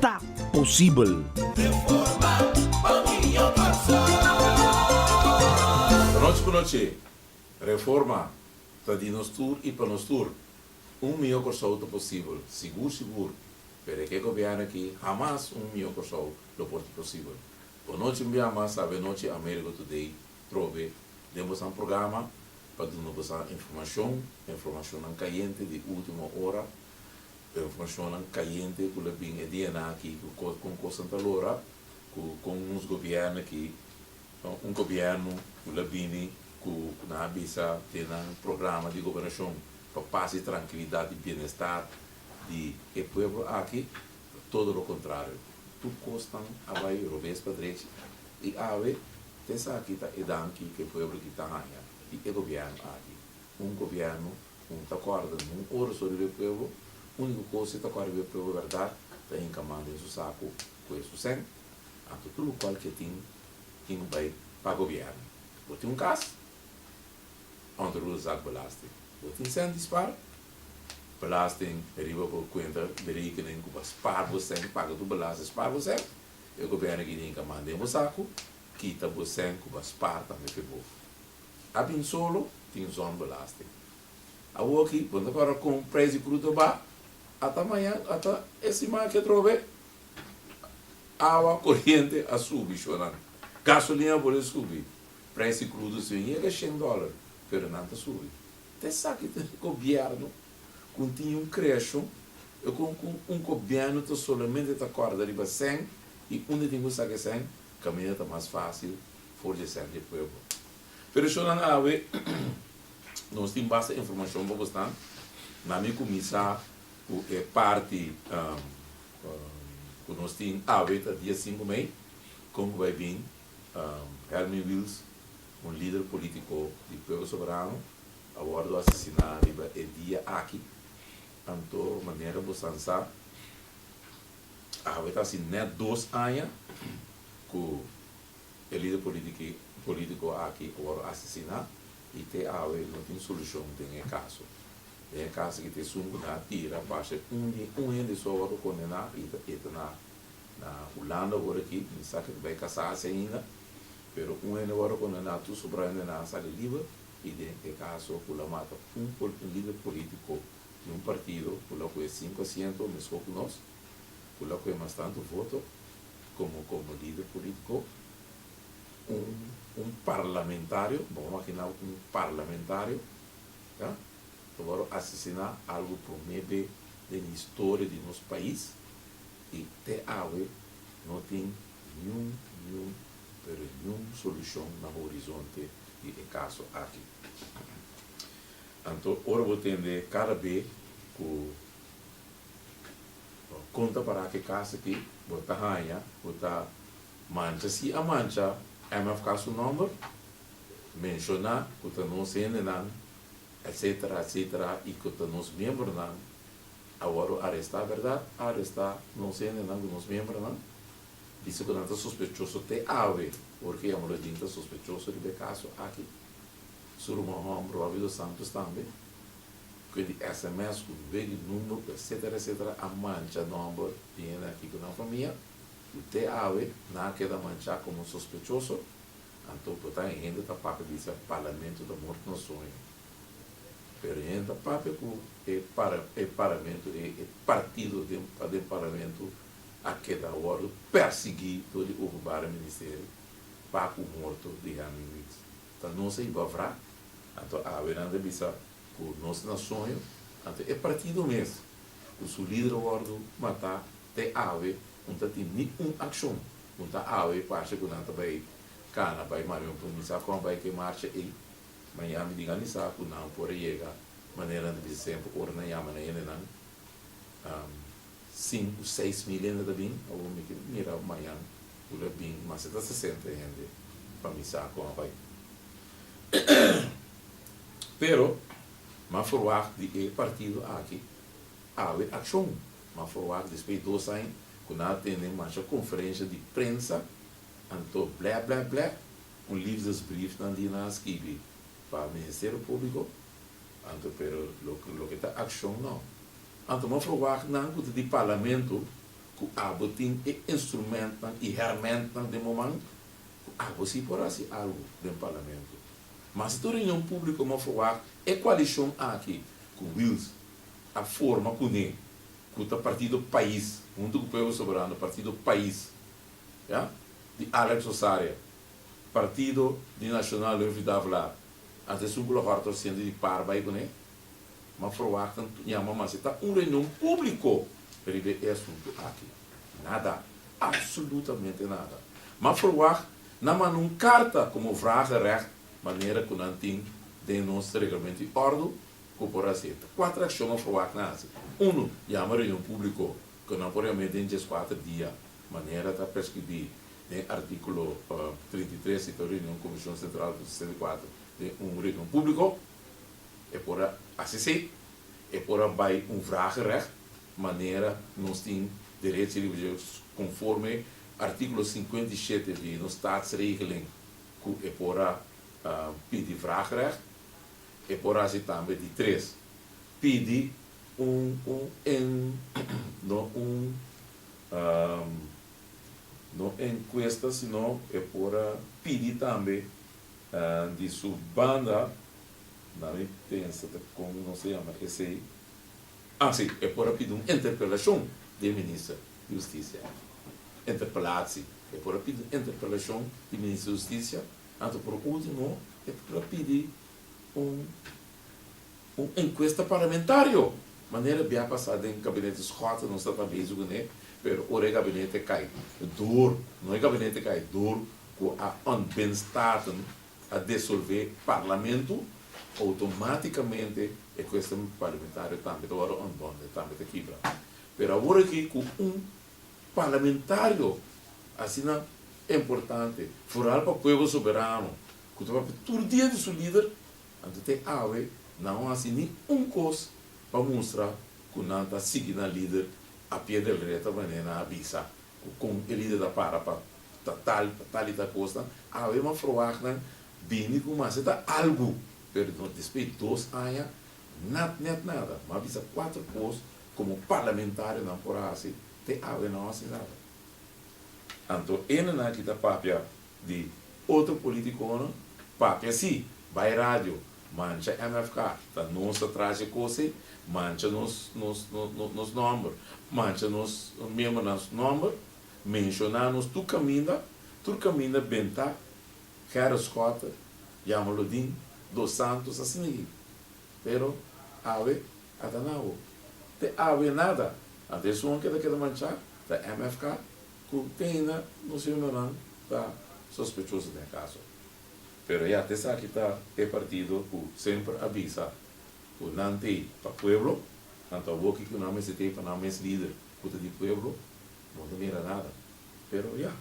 ta posibel. Pa nos ku no che Reforma ta di nos tur i pa nos tur. Un mihó Kòrsou ta posibel, sigur sigur, pero e ke gobièrnu aki hamas un mihó Kòrsou lo por di posibel. Bo no chin bia mas sabe anochi Amerigo Today probe den bosan programa pa duna bosan informashon, informashonnan kayente di último ora. e informashonnan kayente ku la bin e DNA aki, ku kos kon kosnan ta lora, ku kon nos gobièrnu aki, un gobièrnu ku la bini ku nan a bisa den nan programa di gobernashon pa pas i trankilidat i bienestar di e pueblo aki, ta todo lo kontrario. Tur kosnan a bai robes pa drechi i awe ta esaki ta e danki ku e pueblo aki ta haña di e gobièrnu aki, un gobièrnu. Un ta corda un ora so riba e pueblo, unico cos e ta corda riba e pueblo verdad ta hinca man den su saco cu e su sen, anto tur local cu e tin, tin bay pa gobierno. Bo tin un cas? Under rule zak belasting. Bo tin sen di spar? Belasting riba bo cuenta di rekening cu bo a spar bo sen, paga tur belasting spar bo sen, e gobierno a kiri hinca man den bo saco, kita bo sen cu bo a spar tambe fe bof. a bin solo tin zon belasting. Awor aki bo ta para kon prijs di kruta ba, ata maña ata e siman aki atrobe awa, koriente a subi shonan, gasolin a bolé subi, prijs di krudo si bin yega shen dollar pero nan ta subi. Ta esaki ta e gobièrnu ku un tin un kreashon e kon ku un gobièrnu ta solamente ta kòrda riba sèn i unda tin ku sa ke sèn Caminda ta mas facil for dje ser dje pueblo. Federashonnan awe nos tin basta informacion bobo snan. Na mi cu mi sa cu e parti cu nos tin awe ta dia sinku mei con cu bay bin Hermie Wils un lider politico di Pueblo Soberano a wordo asesina riba e dia aki. Anto manera bosan sa. Awe ta haci net dos aña cu e lider politico aki a worde asesina y te awe no tin solucion den e caso. Den e caso aki ta esun cu nan a tira parce un hende so a worde condena y e ta na Hulanda ora aki, mi sa cu ta bay casa haci ainda, pero un hende a worde condena tur sobrayonan a sali liber y den e caso cu lo a mata un lider politico. di un partido cu lo cu e cinco asiento mesco cu nos, cu lo cu e mas tanto voto, como como lider politico, un un parlamentario, bo maginao un parlamentario, ta ta wòrdu asesina, algo prome be den historia di nos pais, y te awe no tin niun niun pero niun solucion na horizonte di e caso aki. Anto ora bo tende kada be ku bo konta pará ku e kas aki, bo ta haña ku ta mancha. Si a mancha mfk su nòmber, menshoná ku ta nos hendenan, etsetera, etsetera i ku ta nos miembronan, a wòrdu arestá bèrdat, a arestá nos hendenan ku nos miembronan, bisa ku nan ta sospechoso te awe, ora ku yama lo jinta sospechoso riba e kaso aki. Su ruman hòmber Robbie dos Santos tambe, kue di sms ku be di number ku etsetera etsetera a mancha nòmber di hende aki ku nan famia, ku te awe nan a keda manchá komo sospechoso, anto por ta e hende ta papia di sa parlamento ta morto na soño. Pero e hende ta papia ku e para e parlamento e e partido den den parlamento a keda wòrdu pèrsiguí dor di Openbare Ministerie pa ku morto di Henry Reed. Ta nos a hiba vra, anto awenan ta bisa ku nos na soño, anto e partido mes ku su lider a wòrdu matá te awe un ta tin ni un akshon ku ta awe parse ku nan ta bai kana bai Marion por mi sa kon a bai ku e marsha ei maña mi diga mi sa ku nan por a yega manera nan ta bisa semper ora nan yama nan hende nan Sin cu seis mil hende ta bin, abo mi ke mira mayan cu lo a bin mas hasta sesenta hende pa misa con a bai. Pero m'a verwacht di e partido aki awe accion. M'a verwacht despues dos aña cu nan a tende masha conferencia di prensa anto blèp blèp blèp un liefdesbrief nan di nan a skibi pa Ministerio Publico anto pero lo ke ta accion no. Anto no verwagt nan ku ta di parlamento ku abo tin e instrumentnan i hèrmentnan den bo man ku abo si por hasi algu den parlamento. Mas si ta un reunion públiko no verwagt e koalishon aki ku Wils a forma kuné ku ta Partido Pais huntu ku Pueblo Soberano, Partido Pais, ya, di Alex Osaria, Partido di Nacional Louis Vidal Vlar, anto esun ku lo hòrta lo siente di par bai kuné. Ma verwachten tu yama mas e ta un reunion publico riba e asuntu aki. Nada, absolutamente nada. Ma verwagt nan manda un carta como vragerecht manera cu nan tin den nos reglamento y ordo cu por haci. Ta cuater accion a verwagt nan haci. Uno, yama reunion publico cu nan por yama den diescuater dia manera ta prescribi den articulo trinta y tres y ta un reunion Comision Central cu sesenta y cuater den un reunion publico. E por a hasi e. E por a bai un vragenrecht manera nos tin derech di refugiados conforme articulo cincuenta y siete di nos Statsregeling cu e por a pidi vragenrecht. E por a hasi tambe di tres, pidi un no encuesta sino e por a pidi tambe Di su banda, na mi pensa ta con nos ta yama esey, ah si, e por a pidi un interpelacion di e Minister di Husticia, interpelad si, e por a pidi un interpelacion di Minister di Husticia, anto por ultimo e por a pidi un un encuesta parlamentario, manera bia pasa den Gabinete Scott nos tabata bezi cune, pero ora e Gabinete cay door, no e Gabinete cay door, ku a ontbin staten a desolvé parlamentu, outomátikamente e kuestion parlamentario tambe ta wòrdu ontbondé, tambe ta kibra. Pero awor aki ku un parlamentario asina importante, foral pa pueblo soberano, ku ta papia tur dia di su lider, anto te awe nan no a hasi ni un kos pa mustra ku nan ta sigui nan lider a pie del reta manera nan a bisa ku kon e lider ta para pa ta tal, ta tal y tal cosnan, awe mas froagnan bini cu mas e ta algu, pero nos despues dos aña nat net nada, mas bisa cuatro cos como parlamentarionan por haci, te awe no haci nada. Anto e nan aki ta papia di otro politiconan, papia si, bay radio, mancha MFK, ta nos ta traha dje cos ey, mancha nos nomber, mancha nos miembernan su nomber, Menshona nos tur kaminda, tur kaminda Bentá, Gerrit Schotter, Jan Holodin, Dos Santos asina yei. Pero awe ata nan hopi. Te awe nada, anto esunnan ke ta keda manchá ta MFK ku Teyna nos hembernan ta sospechoso den e kaso aki. Pero ya, ta esaki ta e partido ku semper a bisa ku nan t'ei pa pueblo, nan ta hoki ku nan mester t'ei pa nan mes lider. Cu ta di pueblo no ta mira nada. Pero ya.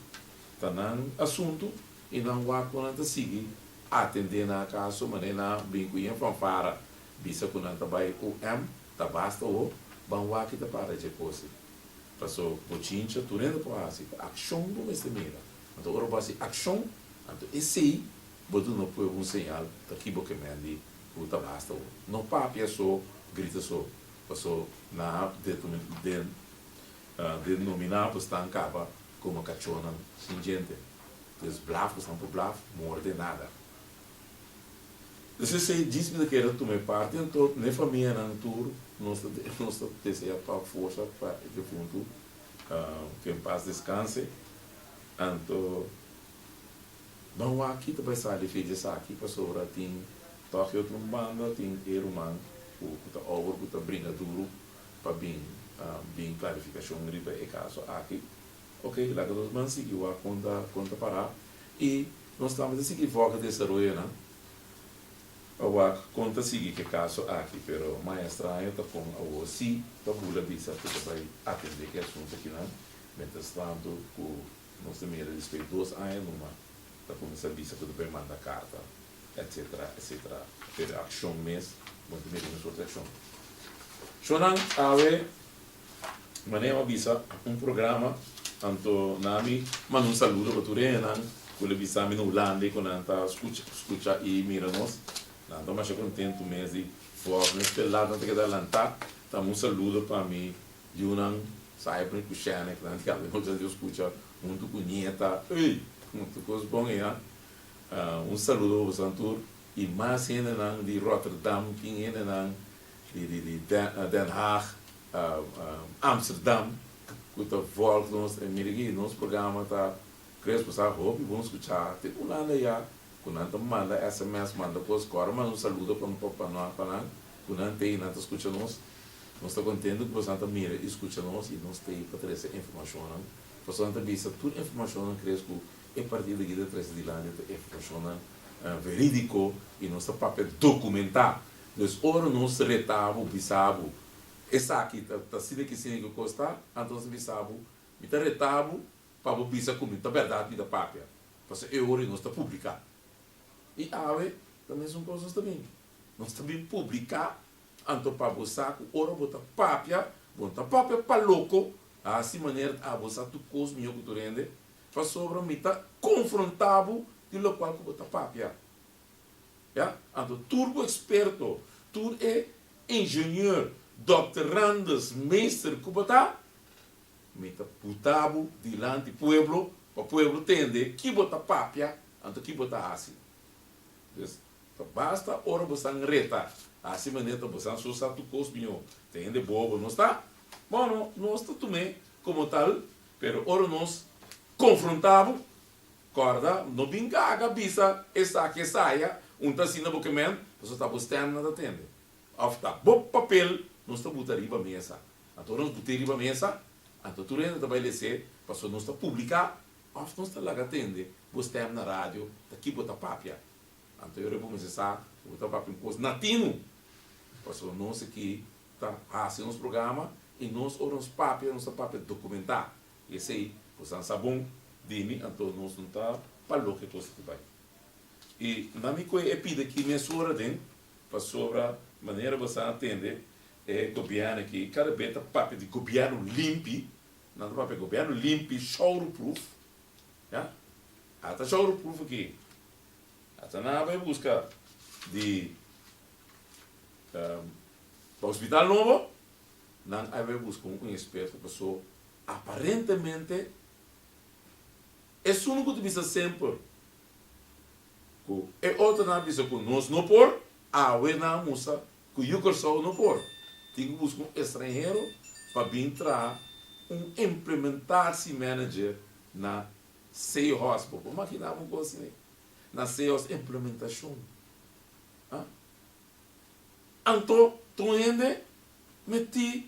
Ta nan asunto y nan wak cu nan ta sigui atende nan acaso mane nan a bin cu yen fanfara bisa cu nan ta bay UM ta basta ho ban wak y ta para dje cose. Paso bo chincha tur hende por haci ta accion bo mester mira. Anto ora bo haci accion anto esey bo duna pueblo un señal pakibo ke mendi cu ta basta ho. No papia so, grita so. Paso nan a denominá bo stan kaba komo kachonan shin djente. Bo es blaf, bo stan por blaf, morde nada. Despues e djispi ta keda tuma e parti anto n'e famianan tur nos ta nos ta desea tok forsa pa e difuntu, ke en pas deskanse, anto. Nan wak-i ta bai sa di fe djesaki pasobra tin tòg otro un banda tin e ruman ku ta ober ku ta bringa duru pa bin bin klarifikashon riba e kaso aki. Oke, laga nos nan sigui wak kon ta kon ta pará i nos tambe ta sigui vògd desaroyonan pa wak kon ta sigui ku e kaso aki pero mai estraño ta kon awor sí ta bula bisa ku ta bai atendé e asuntu akinan miéntras tantu ku Nos ta mira dispey dos aña numa ta cuminsa bisa cu ta bay manda carta etc. Etc. Pero accion mes no ta mira ninguno accion. Shonan awe manera a bisa un programa anto nan ami manda un saludo pa tur engenan cu lo bisami na Hulanda cu nan ta scucha y mira nos. Nan ta masha contento mes di for nos pelanan ta keda alanta. Tambe un saludo pa mi. Yunan sai p'e kushène ku nan diablo nos a skucha huntu ku nieta. Ey! Huntu kos bon ey a! Un saludo pa boso antur i mas hendenan di Rotterdam, kin hendenan di di di Den Haag, Amsterdam ku ta volg nos. E mira aki nos programa ta kres pasá hopi bon skuchá. Tin un landa ya ku nan ta manda sms, manda kos kòrda mas un saludo pa nan. Ku nan t'ei nan ta skucha nos. Nos ta kontentu ku boso nan ta mira i skucha nos i nos t'ei pa trese e informashonnan. Pasobra nan ta bisa tur informashonnan kres ku e partido aki ta trese dilanti ta informashonnan veridiko i nos ta papia dokumentá. Dus ora nos reta bo, bisa bo, esaki ta asina aki asina ku e kos ta, anto nos a bisa bo, mi ta reta bo pa bo bisa ku mi ta bèrdat mi ta papia. Pasobra e ora nos ta publiká. I awe ta mesun kos nos ta mira. Nos ta bin publiká, anto pa bo sa ku ora bo ta papia, bo no ta papia pa loko, a hasi manera ta abo sa tur kos mihó ku tur hende, pasobra mi ta konfrontá bo di lokual ku bo ta papia. Ya, anto tur bo eksperto, tur e injenier, dòkterandes, meester ku bo ta, mi ta buta bo dilanti pueblo, pa pueblo tende ki bo ta papia, anto ki bo ta hasi. Ta basta ora bo san reta hasi maneta bo san so sa tu kos miho te hende boa bo nos ta bono nos ta tume komo tal pero ora nos konfronta bo korda no bin gaga bisa esaki esaya un ta asina bo kemen paso ta bo stem nan ta tende of ta bo papel nos ta buta riba mesa anto ora nos bute riba mesa anto tur hende ta bai lese paso nos ta publica of nos ta laga tende bo stem na radio ta ki bo ta papia. Anto ora e bo mester sa ku bo ta papia un kos natino. Pasobra nos aki ta hasi nos programa i nos ora nos papia nos ta papia dokumentá. I esei bo san sa bon di mi, anto nos no ta pa loke e kos aki bai. I na mi kue e pida aki mesora den, pasobra manera bo san a tende e gobièrnu aki kada be ta papia di gobièrnu limpi, nan ta papia gobièrnu limpi, showroproof, ya. Ata showroproof aki Ata nan a bay busca di pa hospital nobo, nan a bay busca un experto paso aparentemente esun cu ta bisa semper cu e otronan a bisa cu nos no por awe nan a mustra cu yu Curaçao no por tin cu busca un estranhero pa bin traha un implementatie manager na Seahorse, bo por makiná un kos así na Seahorse implementacion. Ha? Anto ta un hende mití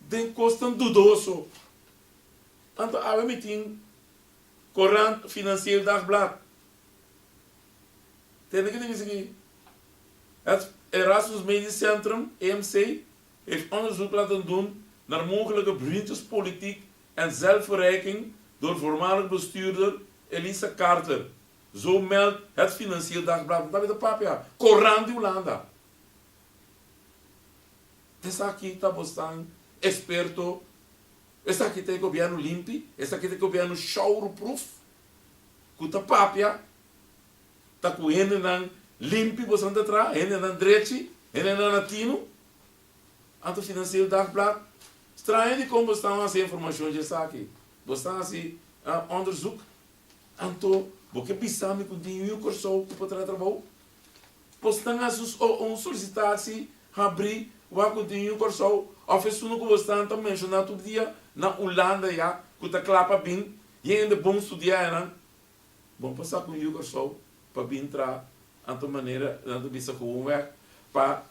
den kosnan dudoso. Anto awe mi tin Courant Financieel Dagblad. Te hende ke ta bisa ki, Erasmus Medisch Centrum, EMC. Het onderzoek laten doen naar mogelijke vriendjespolitiek en zelfverrijking door voormalig bestuurder Elisa Carter, zo meldt Het Financieel Dagblad. Nan ta beta papia Coran di Hulanda. Esaki ta bosnan experto? Esaki ta e gobierno limpi? Esaki ta e gobierno showroomproof? Cu ta papia. ta ku hendenan limpi boso ta traha, hendenan drechi, hendenan a tinu? Anto Financiero Dagblad, Straña di kon boso ta hasi informashon dje esaki. Boso ta hasi onderzoek. Anto bo ke bisa mi ku tin yu yu Kòrsou ku por traha trabou? Boso tan hasi un solisitasi habri wak ku tin yu yu Kòrsou? Òf esun ku boso tan ta menshoná tur dia na Ulanda ya ku ta kla pa bin hende bon studianan? Bo pasa cu un yu Kòrsou pa bin tra nan ta manera nan ta bisa cu un weg pa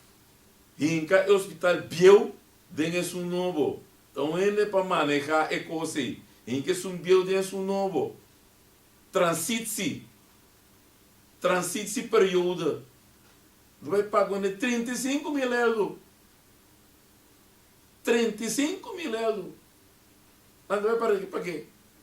hinca e hospital bieu den esun nobo. Ta un hende pa maneha e cos ey. Hinca esun bieu den esun nobo. Transitsi. Transitsi periode. Lo bay paga un de trinta y sinku mil eldo. Trinta y sinku mil eldo. Nan ta bay para pake?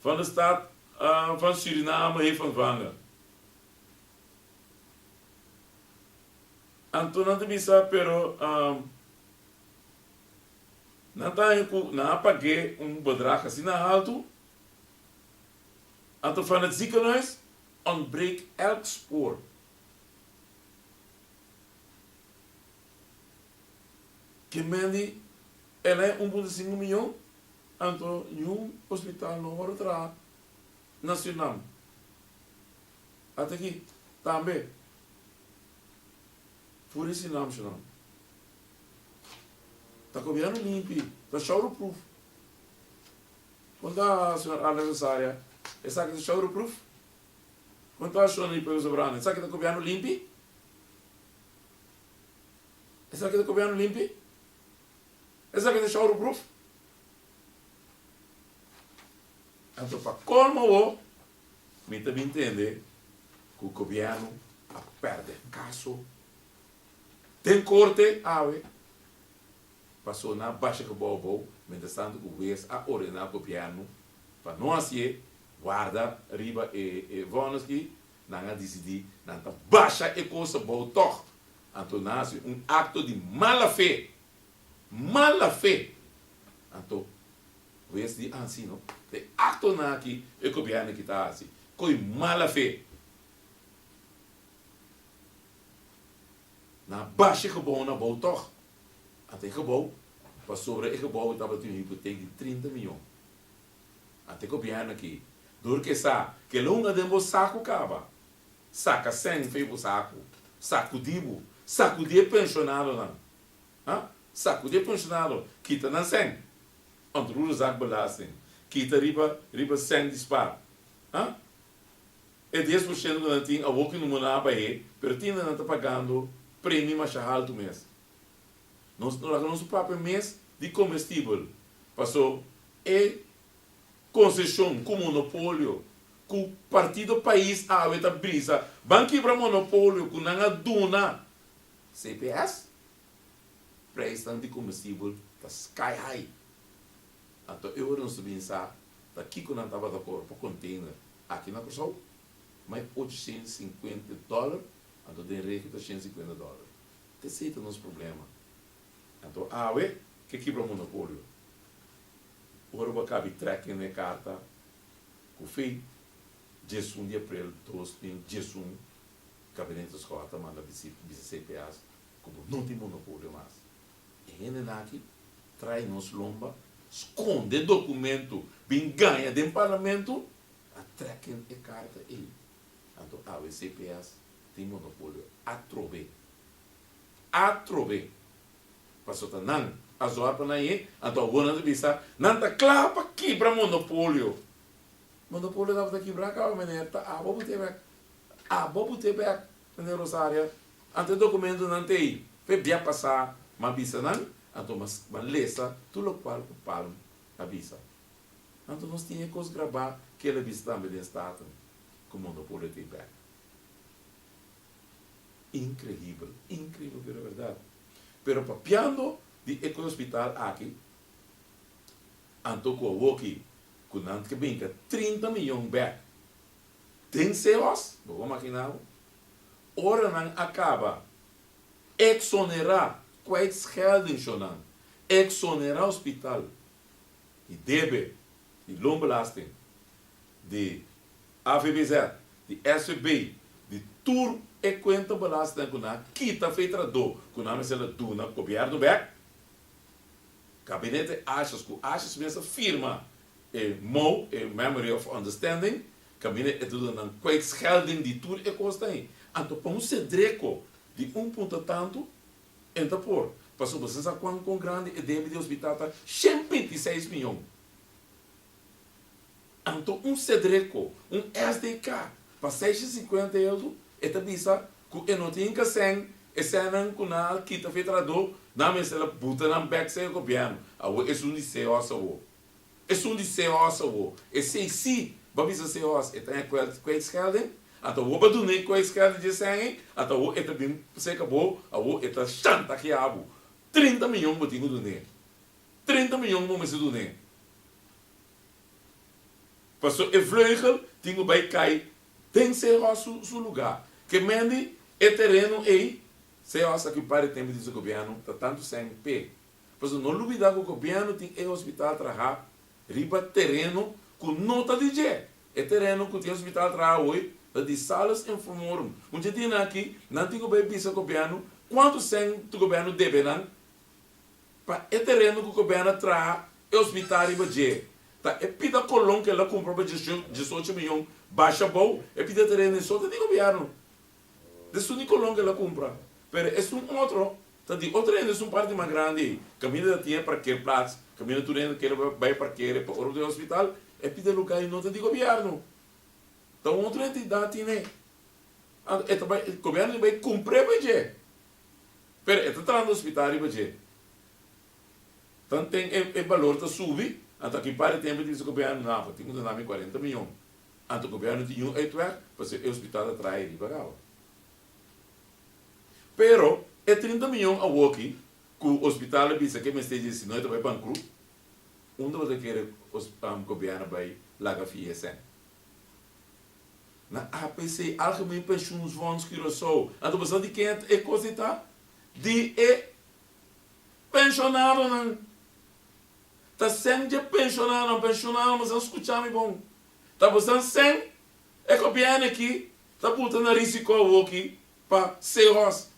van de stad van Suriname hef van vanga. Anto nan ta bisa, pero nan ta haña cu nan a pag'é un bedrag asina alto. Anto van het ziekenhuis ontbreek elk spoor. Ke men di, Ela e un punto sinku miyon? Anto niun hospital no wòrdu traha na Surinam. Ata aki tambe for di Surinam shunan ta gobierno limpi, ta shower proof. Kon ta señor Arlen Rosaria esaki ta shower proof? Kon ta Shoney Pebes Sobrano esaki ta gobierno limpi? Esaki ta gobierno limpi? Esaki ta shower proof? Anto pa colmo bo mi ta bin tende cu gobierno a perde caso den corte awe paso na basha gebouw bou mientras tanto cu wees a ordena gobierno pa no hacié warda riba e vonnis ki Nan a disidí nan ta basha e kos abou tòg, anto nan a hasi un akto di mala fe. Mala fe! Anto, wes di ansino, ta e aktonan akí e gobièrnu aki ta hasi ku e mala fe. Nan a basha e gebounan abou tòg, anto e gebou, pasobra e gebou tabata tin un hipotek di trinta miyon. A te gobièrnu aki. Dor ke sa, ke lunga den bo saku kaba. Saka sèn fei bo saku. Sakudí bo. Sakudí e penshonadonan. Ha? Sakudí e penshonado. Kita nan sèn. Ontroerezak belasting. Kita riba, riba sèn di spa. Ha? E dies por shento ku nan tin, awoke no muna a bah'é, pero tin nan nan ta pagando premi masha haltu mes. Nos ta laga nos propio mes di comestibel paso e concesion cu monopolio cu partido pais awe ta brisa ban kibra monopolio cu nan a duna cps prijsnan di comestibel ta sky high anto e ora nos ta bini sa ta kico nan tabata cobra pa container aki na Curaçao mai ocho ciento cincuenta dollar anto den regio ta ciento cincuenta dollar. Te sei ta nos problema. Anto awe ke kibra monopolio. Ora bo a kabi trèkking na e karta ku fei diesun di aprel dos mil diesun Gabinete Escola ta manda bisi bisi cps ku bo no tin monopolio mas. E hende nan aki trai nos lomba, skonde dokumento, bin gaña den parlamento a trèkking e karta ei. Anto awe cps tin monopolio atrobe. Atrobe. Pasobra nan a zorga pa nan ye, anto awonan ta bisa nan ta kla pa kibra monopolio. Monopolio tabata kibra kaba meneer ta abo bo te bek, abo bo te bek meneer Rosaria. Anto e dokumentonan ta ei pa e bia pasa m'a bisa nan, anto m'a m'a lesa tur lokual ku Palm a bisa. Anto nos tin e kos grabá kila bisa tambe den Staten ku monopolio ta ei bek. Increíbel, increíbel pero verdad. Pero papiando di e hospital aki, anto cu awoki cu nan ke binca trinta miyon bek den se hos, bo por makina bo, ora nan a caba exonera kwijtscheldingsjonan, exonera hospital di debe di loonbelasting. di AVBZ, di SVB, di tur e kuenta balasta ku nan a kita for e tradó ku nan mester ta duna gobièrnu bèk. Gabinete Ashers ku Ashers mes a firma e mou, e Memory of Understanding, kaminda e ta duna nan kwijtschelding di tur e kos dei. Anto pa un sedreko di un punto tantu e ta por, pasobra sin sa kuan kon grandi e debi di hospital ta shen binti seis mion. Anto un Sedreco, un SDK, pa seiscientos y cincuenta y algo, e ta bisa cu e no tin inca sèn esènan cu nan a kita fe trahadó, nan mester a buta nan bek sa e gobièrnu. Awor esun di seos awor. Esun di seos awor. Esei sí, ba bisa seos, e ta ña kwèl, kwijtschelding. Anto awor ba duna e kwijtschelding dje sèn ei, anto awor e ta bin seka bo, awor e ta shantaheá bo. Trinta miyon bo tin cu dun'é. treinta mion ku bo mester duna e. Paso e vleugel tin ku bai kai den CEHOS su su luga. Ke mendi e tereno ei, CEHOS aki un par di tempu tin su gobièrnu ta tantu sèn p'e. Paso no lubidá ku gobièrnu tin e hospital trahá riba tereno ku no ta di dje. E tereno ku tin e hospital trahá awoy ta di Salus en Fomorum. Un dje dianan aki nan tin ku bai bisa gobièrnu kuantu sèn gobièrnu debe nan. Pa e tereno ku gobièrnu a traha e ospitá riba dje, ta e pida Colón ku el a kumpra pa diesocho miyon basha bou e pida tereno i so ta di gobièrnu. Di esun di Colón ku el a kumpra, pero esun otro ta di otro hende, esun parti mas grandi ei. Kaminda ta tin e parkeerplats, kaminda tur hende ta kere bai a parkere pa ora bo ta bai ospital, e pida lugá i no ta di gobièrnu, ta un otro entidat tin ei. Anto e ta bai, gobièrnu ta bai kumpr'e pa e dje. pero e ta trata hospital riba dje. Tanten e e balor ta subi, anto aki par di tempo e dice gobierno no abo tin cu dona mi cuarenta miyon, anto gobierno no tin niun uitweg pasobra e hospital ta traha riba caba. Pero e trinta miyon awo aki cu hospital a bisa cu e mester dje sino e ta bay bancrut, unda bo ta kere gobierno bay laga fi e cen? Na APC, Algemeen Pensioensfonds Curaçao, anto bo sa di ken e kos ei ta? Di e pensionadonan. Ta sèn dje pensionadonan. Pensionadonan bo sa skucha mi bon. Ta bo sa sèn e gobièrnu aki ta buta na risiko awoki pa seos.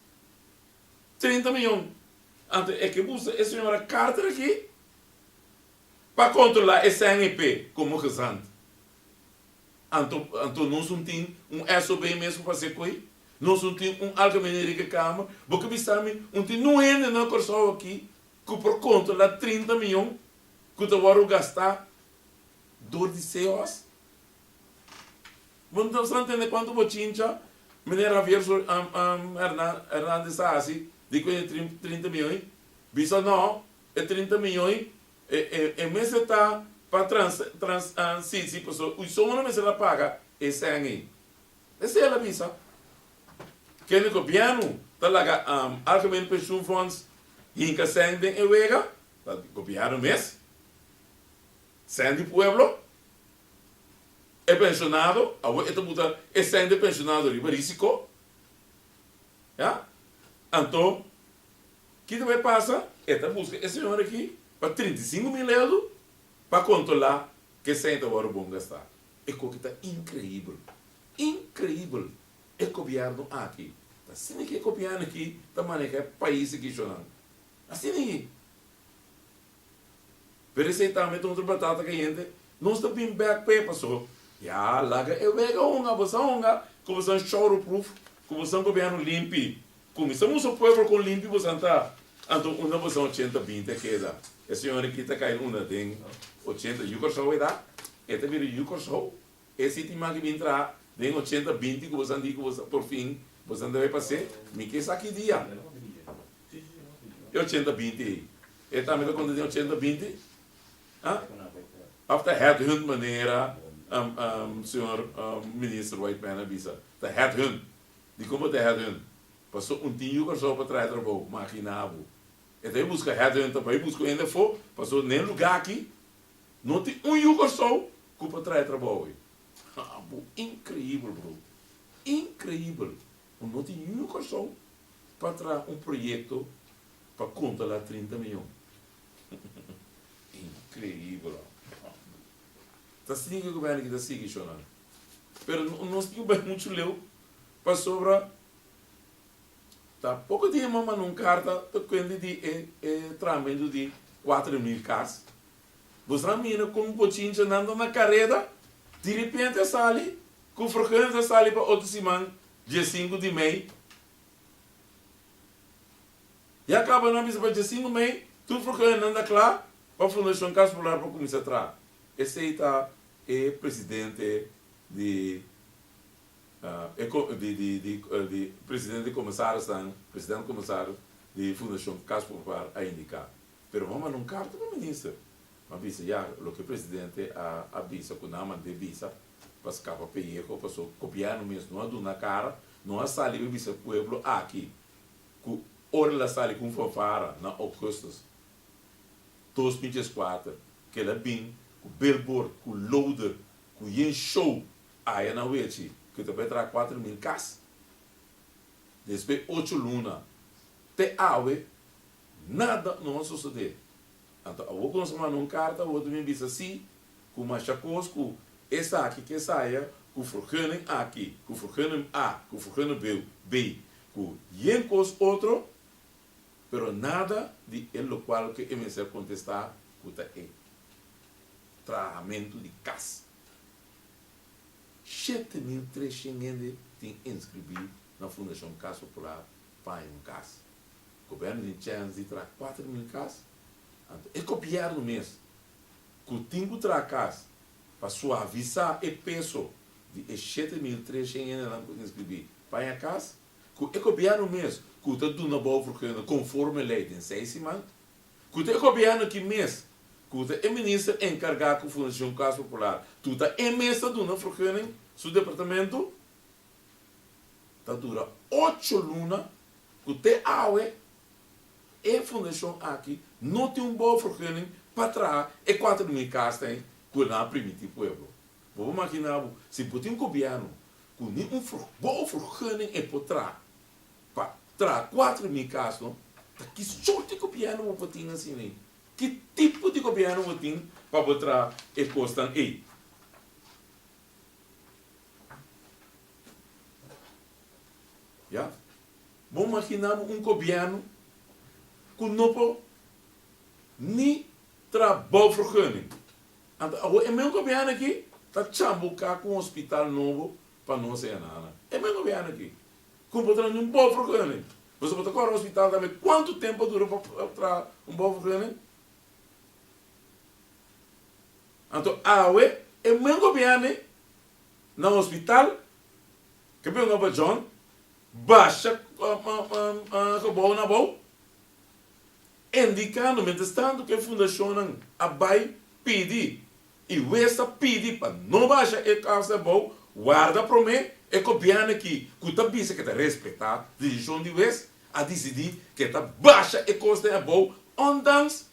Trinta miyon. Anto e ke busa e señora Carter aki pa kontrolá e sèn ei p'e komo gezant. Anto, anto nos un tin un SOB mes pa fase koe? Nos un tin un algemeneria ke kamer? Bo ke bisa mi un tin nu hende na Kòrsou aki ku por kontrola trinta mion ku ta wòrdu gastá dor di se hòs? Bo no ta sa ntende kuantu bochincha Meneer Javier Hernandez a hasi di ku e trinta mion ei? Bisa nò, e trinta mion ei E mester ta pa transisi, pasobra un solo no mester a paga e sèn ei. Esei el a bisa. Kende gobièrnu ta laga Algemene Pensioenfonds hinka sèn den e wega, ta gobièrnu mes, sèn di pueblo. E pensionado, awor e ta buta e sèn di e pensionado riba risiko. Anto Kiko ta bay pasa? E ta buska e señor aki pa trinta i sinku mil euro pa controla ke cento wor bon gasta. E koki ta increibel. Increibel. E gobierno aki ta asina ke e gobierno aki ta maneha e pais aki, Jonan. Asina i. Pero esei tambe ta otro batata cayente. Nos ta bin bek p'e paso ya laga e wega honga bo sa honga cu bo san showro proof cu bo san gobierno limpi cuminsa musa pueblo con limpi bo san ta anto unda bo san ochenta binti a keda e señor aki ta cay unda den ochenta yu Curaçao e ta e ta bira yu Curaçao e city maki bin traha den ochenta binti cu bo san di cu bo san porfin bo san ta bay pase mi ke esaki dia. E ochenta binti ei. E tambe ta konta den ochenta binti? Ha? Of ta headhunt manera Señor Minister White Mann a bisa? Ta headhunt. Dikon bo ta headhunt? Paso un tin yu Kòrsou pa traha trabou, ma aki na abu. E ta bai buska headhunt ta bai buska un hende afó, paso na e lugá aki no tin un yu Kòrsou ku por traha e trabou ei. Abu increíbel, broer. Increíbel. Bo no tin yun Kòrsou pa traha un proyekto pa konta la trinta miyon? Inkreibel hombre. Ta sigui e gobierno aki ta sigui shona. Pero nos tin ku bai muchu leu pasobra ta poko dia mas manda un karta ta kuente di e trahamento di kuater mil kas. Bosnan mira como Pochincha nan ta na careda, direpente a sali cu frecuencia sali pa otro siman dia sinku di mei. Ya caba nan bisa pa dia sinku mei tur frecuencia nan ta cla pa Fundacion Cas Popular pa cuminsa traha. Esey ta e presidente di Presidente di Comisarisnan, President Comisaris di Fundacion Cas Popular a indica. Pero bo a manda un carta pa minister ma bisa ya loke presidente a a bisa cu nan a manda e bisa pa scapa pelleco paso gobierno mes no a duna cara no a sali be bisa pueblo aki cu ora el a sali cu un fanfara na augustus dos mil diescuater cu el a bin cu billboard cu loader cu yen show aya na wechi cu ta bay traha cuater mil cas despues ocho luna te awe Nada no a sosodé. Anto awor ku nos a manda un karta awor ta bin bisa si ku masha kos ku esaki ke saya ku vergunning aki, ku vergunning a, ku vergunning beu, B, ku yen kos otro, pero nada di e lokual ku e mester kontestá ku ta e trahamentu di kas. Shete mil tres shent hende tin inskribí na Fundashon Kas Popular pa haña un kas. Goberno tin chèns di traha kuater mil kas, anto e gobièrnu mes ku tin ku traha kas pa suavisá e peso di e shete mil tres shen hendenan ku inskribí paña kas, ku e gobièrnu mes ku ta duna bow vergunning konforme lei den seis siman, ku ta e gobièrnu aki mes ku ta e minister enkargá ku Fundashon Kas Popular, tuta e mes ta duna vergunning su departamentu. ta dura ocho luna ku te awe e fundashon aki no tin un bouwvergunning pa traha e kuater mil kastein ku el a primiti pueblo. Bo por makiná bo si bo tin gobièrnu ku ni un bouwvergunning e por traha pa traha kuater mil kasnan ta ki sort di gobièrnu bo por tin asina ei? Ki tipo di gobièrnu bo tin pa bo traha e kosnan ei? Ya. Bo maginá bo un gobièrnu ku no por ni tra bou vergunning. Anto awor e men gobièrnu aki ta chambuká ku un hospital nobo pa nos henana. E men gobièrnu aki ku no por tra niun bou vergunning. Nos a por ta kòrda hospital tambe kuantu tempu a dura pa tra un bou vergunning? Anto awe e men gobierne na hospital ke bini oba John basha gebou na abou e indikando mientras tanto ke fundashonnan a bai pidi y wes ta pidi pa no basha e kousa ebou warda prome e gobierne aki ku ta bisa ke ta respeta desishon di wes a disidi ke ta basha e kosnan ebou ondanks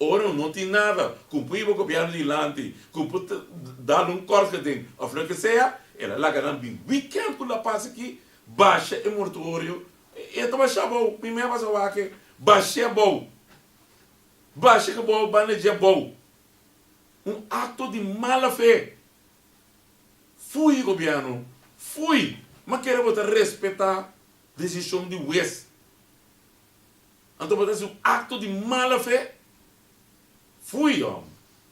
Ora un no tin nada ku pui bo gobièrnu dilanti, ku por ta dal un kòrgeding òf loke sea, el a laga nan bin wikènt ku la pasa aki, basha e mortuorio, e ta basha abou, mi mei a basa wak e, bash'é abou, basha ke bo banda dje abou, un akto di mala fe, fui gobièrnu, fui, ma kere bo ta respetá desishon di wes. Anto bo ta hasi un acto di mala fe? Fui hòm!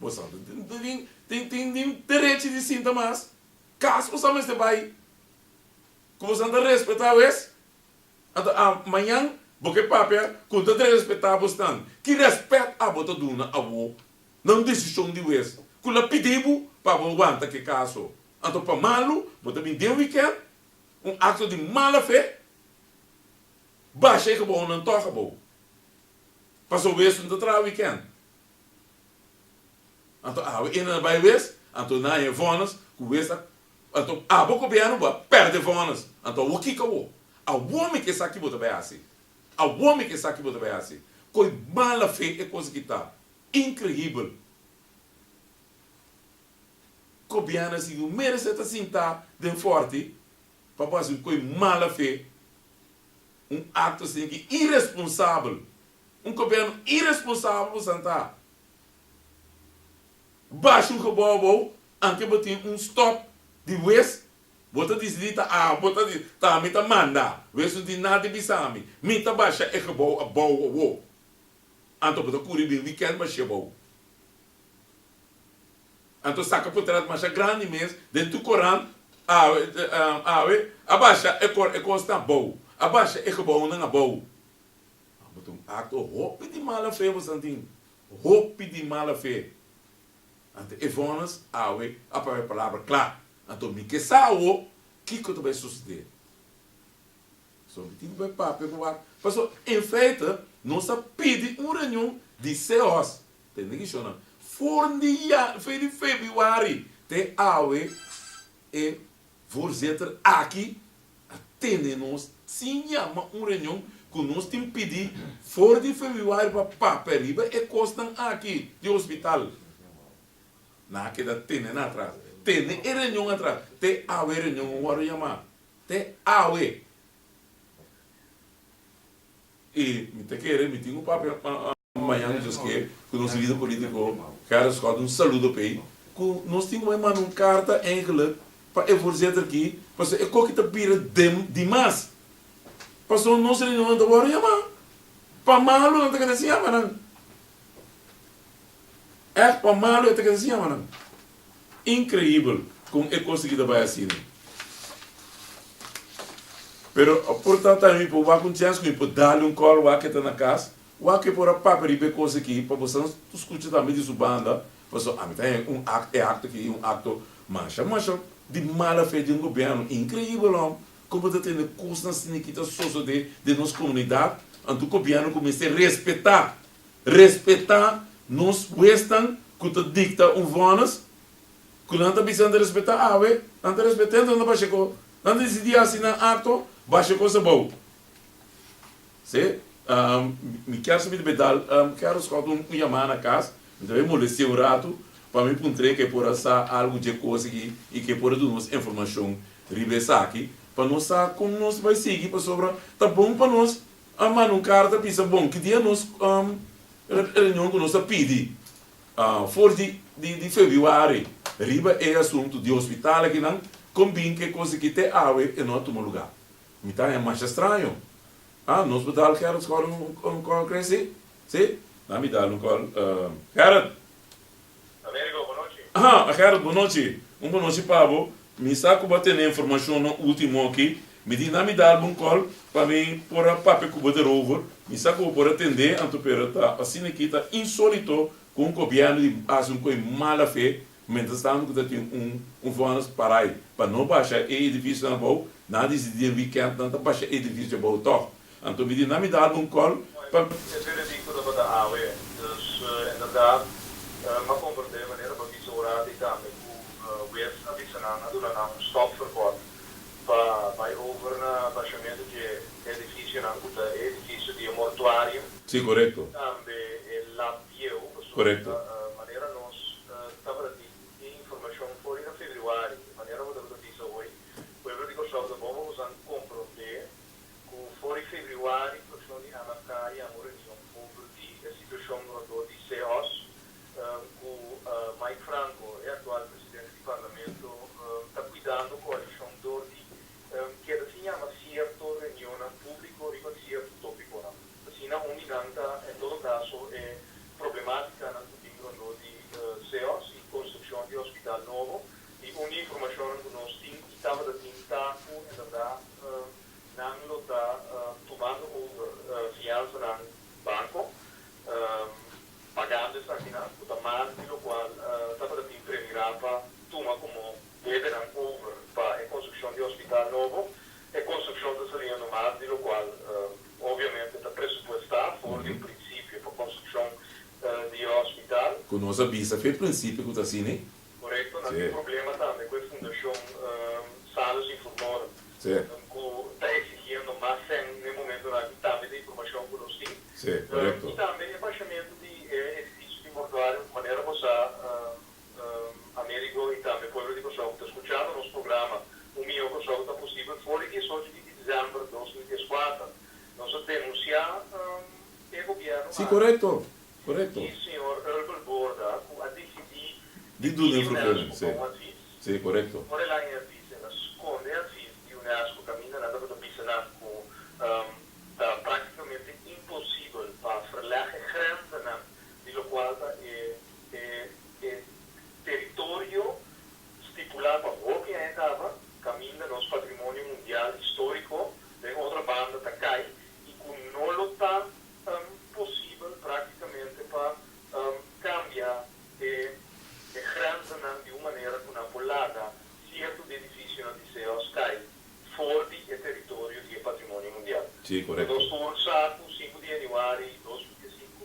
Bo sa ta tin tin tin tin derechi di sinta mas kas bo sa mester bai ku bo sa ta respetá wes. Anto a mañan bo ke papia ku no ta derespetá bo snan. Ki rèspèt abo ta duna awo na un desishon di wes ku la pidi bo pa bo wanta ke kas so? Anto pa malu bo ta bin den wikènt un acto di mala fe? Basha e gebou nan toka bo. Paso wes no ta traha weekend. Anto awe ena na bai wes, anto nan he vonus ku wes ta anto abo gobièrnu bo a pèrdè vonus. Anto awor kiko awor? Awor mi ke esaki bo ta bai hasi. Awor mi ke esaki bo ta bai hasi. Koi mala fe e kos aki ta. Inkrehibel. Gobièrnu a siño merece ta sinta den forti pa bo hasi un koe mala fe, un akto asin ki iresponsabel, un goberno iresponsabel bo santa basha un gebou abou anke bo tin un stop di wes, bo ta disidí ta awe, bo ta disidí ta mi ta manda, wes no tin nada di bisa mi, mi ta basha e gebou abou awo, anto bo ta kuri bin wikènt bash'é abou. Anto saka potrat masha grandi mes den tu koran awe awe a basha e kor e kosnan abou a basha e gebounan abou a bo ta un acto hopi di mala fe bo san tin hopi di mala fe anto e vonnis awe a papia palabra cla anto mi ke sa awo kiko ta bay sucede so mi tin ku bay papia ku wak paso en feite nos a pidi un reunion di ceos Tende ki shona. Vorn di ja, fe di febiuari te awe e voorzitter aki a tende nos sin yama un reunion ku nos tin pidi for di febiuari pa papia riba e kosnan aki di hospital. Nan a keda tende nan atras. Tende e reunion atras te awe e reunion no wòrdu yama. Te awe. I mi ta kere mi tin un papia. Mañan nos nos ke ku nos lider politiko Gerrit Schouten un saludo p'ei ku nos tin ku bai manda un karta eigenlik pa e voorzitter ki pasobra e koki ta bira dem di mas pasobra nos reunionnan ta wòrdu yama pa malu nan ta keda sin yama nan èh pa malu e ta keda sin yama nan inkreibel kon e kos aki ta bai asina pero por ta ta mi por wak un chèns ku mi por dal un kòl wak e ta na kas Wake por a papia riba e cos aki pa bo san scucha tambe di su banda, pasobra ami ta hen un act, e act aki i un acto masha masha di mala fe di un gobierno, increibel hom, como ta tende cosnan asina aki ta sosode den nos comunidad, anto gobierno cu mester respeta, respeta nos huesnan cu ta dicta un vonnis, cu nan ta bisa nan ta respeta awe, nan ta respeta enton nan ta basha e cos, nan ta dicidi haci nan acto, basha cos abao. Sey, mi kier sa mi ta bai dal Carol Scott un yamá na kas, mi ta bai molesté un ratu pa mi puntr'é ke por a sa algu dje kos aki i ke por a duna nos informashon riba esaki pa nos sa kon nos bai sigui pasobra ta bon pa nos a manda un karta bisa bon ki dia nos reunion ku nos a pidi for di di febuari riba e asuntu di hospital akinan kon bin ke kos aki te awe e no a tuma lugá. Mi ta haña masha straño. Ah, nos por dal Gerald Scott un call, cre? Sí, sí. Na mi dal un call. Gerald! Amerigo, bo nochi. Ah, a Gerald, bo nochi. Un bo nochi pa bo. Mi sa cu bo a tene informacionnan ultimo aki. Mi di na mi dal bo un call pa mi por a papia cu bo derover. Mi sa cu bo por a tende anto pero ta asina aki, ta insolito cu un gobierno di hasi un coi mala fe Mientras tanto cu ta tin un un vonus parai pa no basha e edificio na bou, nan a dicidi den weekend nan ta basha e edificio bou toch. Anto mi di nan mi da algun call pa. E pere di cu tabata awe, dus inderdaad m'a comprende e manera pa bisa ora di cambia cu Wave a bisa nan, a duna nan un stop verbod pa bay over na bashamento dje edificionan cu ta e edificio di e mortuario. Si, corecto. Tambe e lab. Dieu, pasobra manera nos tabata di e informashon for di Afebriwari i manera bo tabata bisa hoy, pueblo di Kòrsou ta bon pa boso komprondé ku for di Febriwari produshon di ana ka yama un reunion over di e situashon rondó di Seos ku Mike Franco, e aktual presidente di Parlamento, ta kuidando koalishon dor di Keda sin yama sierto reunionnan públiko riba sierto tópikonan. Asina un di nan ta, en todo kaso, e problemátikanan ku tin rondó di CEOS i konstrukshon di hospital nobo. I un di informashonnan ku nos tin i tabata tin ta ku, en bèrdat, nan lo ta tumando over fiansanan banko, pagando esakinan ku ta mas di lokual tabata tin premirá pa tuma komo Diebenan over pa e construccion di hospital nobo. E construccion ta saliendo no mas di locual obviamente ta presupuesta for di un principio pa construccion di e hospital. Cu nos a bisa cu e principio cu ta asina ey. Correcto, nan tin problema tambe cu e fundacion Sanos y Furmorum cu ta exigiendo mas cen n'e momentonan aki tambe ta informacion cu nos tin. Y tambe e bashamentu di e edificio di mortuario manera bo sa. Amerigo y tambe pueblo di Kòrsou cu ta scuchando nos programa. Un miyon Kòrsou ta posibel for di diesocho di diciember dos mil dieskuater. Nos a denuncia e gobierno aki. Di señor Urbil Borda cu a dicidi di duna informacion pa un advis. Ora el a haña e advis el a sconde e advis di Unesco caminda nan tabata bisa nan cu ta practicamente imposibel pa verleg e grenzanan di locual ta e E teritorio stipulá pa hopi hende taba kaminda nos patrimonio mundial históriko den otro banda ta kai i ku no lo ta posibel práktikamente pa kambia e grensenan di un manera ku nan por laga sierto di edifisionan di seos kai for di e teritorio di e patrimonio mundial. Ku nos tur sa ku sinku di yanüari dos mil dies sinku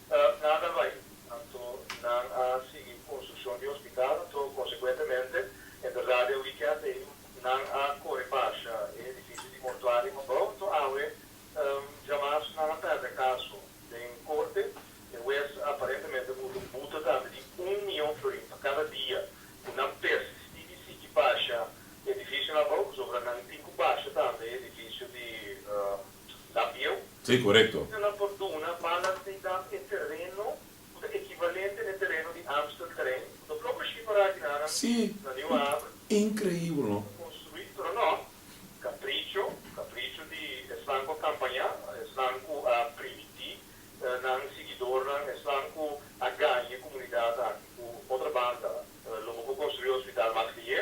Ta nada bai. Anto nan a sigui construccion di hospital, anto consecuentemente e berdad den weekend ey nan a core basha e edificio di mortuario Mambou, anto awe djamas nan a perde caso den corte, e wes aparentemente mutu buta tambe di un miyon florin pa cada dia cu nan persisti di sigui basha edificio Mambou, pasobra nan tin cu basha tambe e edificio di La bieu? Sí, corecto. Cu nan por duna balas di dam e tereno cu ta equivalente n'e tereno di Amstelterrein, cu ta bloko shi pa raginannan Sí, na Nieuwe Haven, increibel, no? ta construi, pero no, capricho, capricho di esnan cu a campaña, esnan cu a primiti nan siguidornan, esnan cu a gaña e comunidad aki. Cu otra banda, lo bo por construi hospital mas lihe,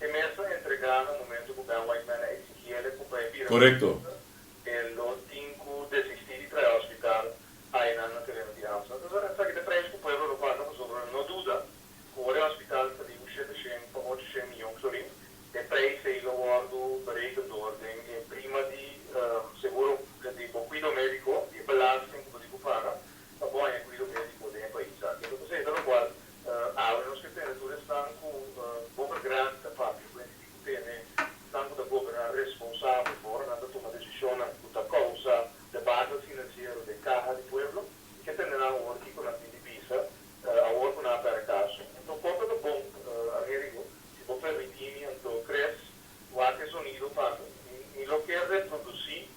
E mes lo entrega na momento cu Ben White Mann a exigi ele cu pa e bira un minister. E lo tin cu desisti di trae hospital Aenan na tereno di Amstel. Entonces a esaki ta prijs cu pueblo lo paga pa Zobra. No duda cu ora e hospital a sali cu shete shen pa ocho shen miyon florin, e prijs ei lo wordo bereken door den e prima di seguro di bo cuido medico di e belasting cu bo tin cu paga Ta bon e cuido medico den e pais aki. Esa cosey ta locual awe nos ke tene tur esnan cu boca grandi ta papia cu hende diko tene nan cu ta goberna responsabel fo'ra nan ta tuma decisionnan cu ta causa debacle financiero den caha di pueblo y ke tende nan awor kico nan tin di bisa awor cu nan a pera caso. Anto conta ta bon Amerigo si bo permiti mi anto tres wak e sonido pa mi mi lo ke reproduci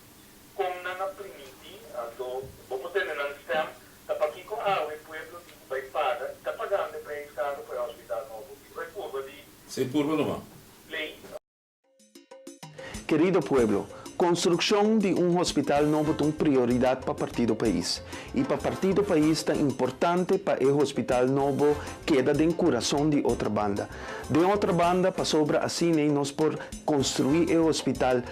Kon nan a primiti? Anto bo por tende nan stem, ta pakiko awe e pueblo di ku bai paga i ta pagando e preis karu pa e hospital nobo aki? Bo e purba di. Sa e purba no man. Lei. Kerido pueblo, konstrukshon di un hospital nobo ta un prioridat pa Partido Pais. I pa Partido Pais ta importante pa e hospital nobo keda den kurason di Otrabanda. Den Otrabanda, pasobra asin'ei nos por konstruí e hospital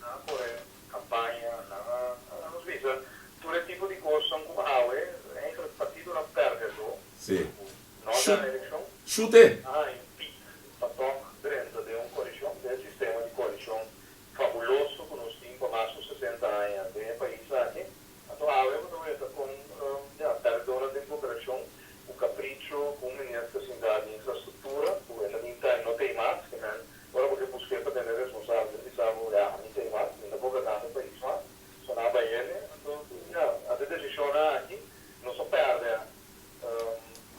Nan a cohe campaña, nan a nos bisa tur e tipo di cosanan cu awe eigenlijk partidonan perdedor cu no gana eleccion, a haña pic pa tok drenta den un coalicion, den e sistema di coalicion fabuloso cu nos tin pa mas cu sesenta aña den e pais aki. Anto awe bo ta weta con ya, perdedonan den cooperacion cu capricho cu un minister sinta den infrastructura cu e ta bin ta y no ta y mas, kimen Ora bo ke busk'é pa tene responsabel, bisabo, Ya, mi tin mas, mi no por kasa mi pais mas, so nan bai hende, anto, ya, a de desishonnan aki, nos a pèrdè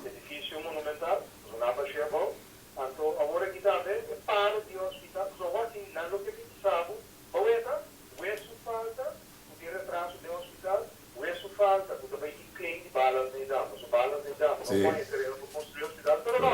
edifisio monumental, nos a naba shea bou, anto, awor aki ta haber e palo di e hospital, nos a wak tin nan loke mi bisabo, bou eta, wesu falta, ku tin retraso den hospital, wesu falta, ku ta bai di klin di balas na e dama, so balas na e dama, no kònde e tereno pa konstrui hospital, pero no,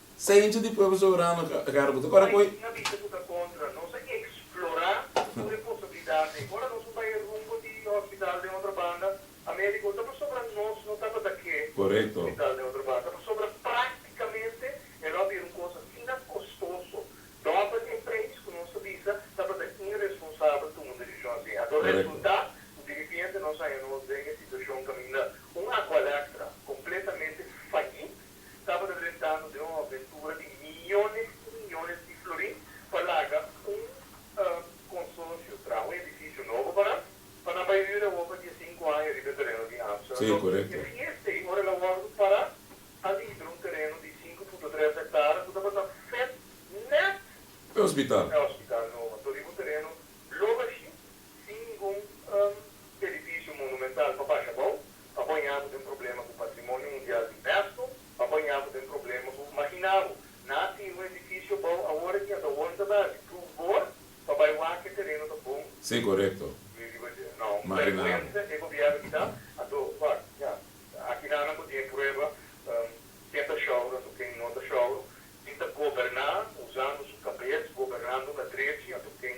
Ciencio di pueblo soberano ta cara cu ta corre cu. Nan bisa cu ta contra. Nos a explora tur e posibilidad ey. Ora nos bai e rumbo di hospital den otro banda, a medico ta pasobra nos no tabata ke hospital den otro banda. Ta pasobra practicamente e lo a bira un cos asina costoso. Dobel e prijs cu nos ta bisa tabata irresponsabel tuma un decision asina. Ato resulta cu di ripiente nos haya nos den e situacion caminda un Aqualectra completamente fayit. Su tabata rentando den un aventura di miyones i miyones di florin pa laga un konsorsio traha un edifisio nobo pa nan, pa nan bai ryu Europa di e sinku aña riba e tereno di Amsterdam. Dor e fiesta ei, ora el a wòrdu pará ali iber un tereno di sinku punto tres ektara ku tabata fèt nèt e ospital nobo, anto riba un tereno lo bashí Singun un edifisio monumental pa basha bou, pa bo ña bo den problema ku Patrimonio Mundial di Unesco, pa bo ña bo den problema ku Magina bo na tin un edifisio bou awor aki anta wòrdu ta bèsi pru bor pa bai wak e tereno ta bon. Sí, korekto. Mi riba dje. No, un bèrgwensa e gobièrnu ki ta. Anto, wak, ña, aki nan nan por tin e prueba ken ta shòru anto ken no ta shòru, tin ta goberná usando su kabes, gobernando na drechi anto ken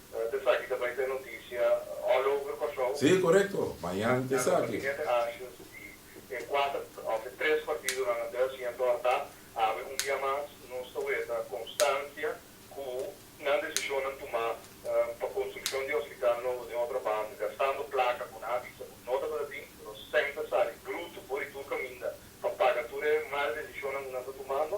Esaki ta bai ta e notisia all over Kòrsou. Sí, korekto. Mañan ta esaki. Dòminiga te Ashens di e kuater òf e tres partidonan a dùs i a tòrta abri un bia mas. Nos ta weta konstansia ku nan desishon nan tumá pa konstrukshon di e hospital nobo den otro banda, gastando plaka ku nan a bisa ku no tabata tin, ku nos sèn ta sali brutu for di tur kaminda pa paga tur e mal desishonnan ku nan ta tumando.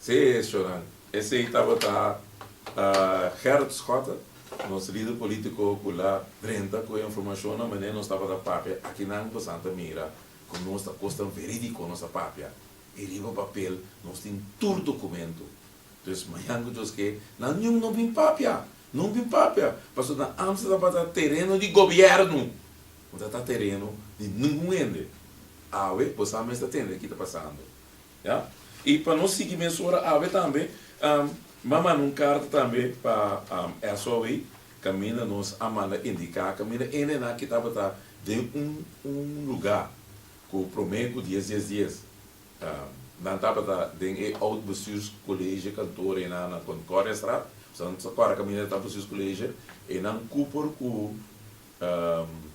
Sí, Shoran. Esei tabata Gerrit Schotte, nos lider politico cu la drenta cu e informacionnan manera nos tabata papia. Akinan pasan ta mira cu nos ta cosnan veridico nos ta papia y riba papel nos tin tur documento. Entonces, mañan cu Dios ke, nan niun no bin papia, no bin papia, pasobra na Amstel tabata tereno di gobierno, no ta ta tereno di ningun hende. Awe, bosa mes ta tende aki ta pasando. Ya. I pa nos sigui mesora awe tambe, m'a manda un karta tambe pa SOE kaminda nos a manda indiká kaminda e nenan aki tabata den un un lugá ku promé ku dies dies dies nan tabata den e oud bestuurskolege kantoor enan na Concordiastraat, sa nan sa kòrda kaminda ta bestuurskolege, enan ku por ku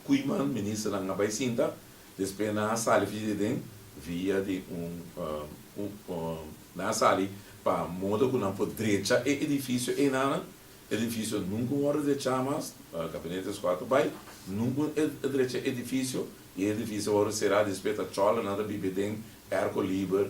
kui man ministernan a bai sinta. Despues nan a sali via di den, via di un, nan a sali pa modo ku nan por drecha e edifisio einanan. E edifisio nunka un wòrdu drecha mas, Gabinete Squad a bai, nunka un drecha e edifisio, i e edifisio a wòrdu será. Despues ta chòla, nan ta biba den, èrko liber,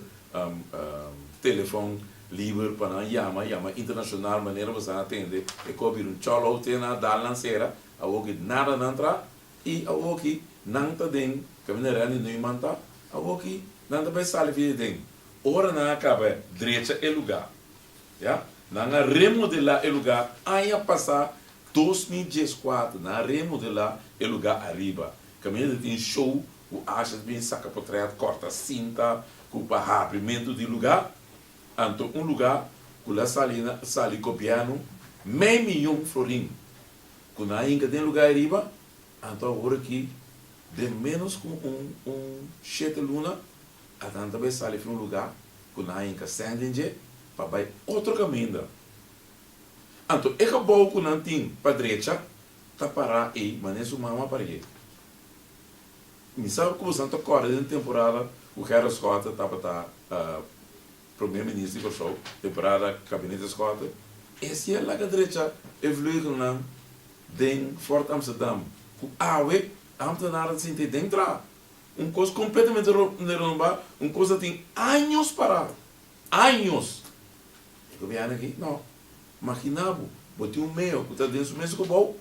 telefòn liber pa nan yama, yama internashonal, manera boso a atende e kòp bira un chòla hotel, nan a dal nan sera, awor ke nada nan tra. I awoki nan ta den kaminda Randy Neumann ta awoki nan ta bai sali via den ora nan a kaba drecha e luga ya nan a remodelá e luga aña pasá dos mil dieskuater nan a remodelá e luga ariba kaminda ta tin show ku asha ta bini saka potrèt kòrta sinta ku pa habrimentu di luga anto un luga ku la sali sali gobièrnu mei miyon florin Cu nan a hinca den luga ayriba, anto a hora ki den menos cu un un shete luna a tanta bay sali fin un luga cu nan a hinca send den dje pa bay otro caminda. Anto e cabou cu nan tin pa drecha ta para ey manera su mama a parié. Mi sa cu boso anto corda den temporada cu Gerritschotter tabata Promé Minister di Kòrsou e parada Kabinete Eskorte e siña laga drecha e vleugelnan den Fort Amsterdam ku awe Amtenaar ta sinti den tra un kos kompletamente renomba, un kos ta tin años para, años! E Gobièrnu aki nò. Maginá bo, bo tin un meo ku ta den su mes gebou,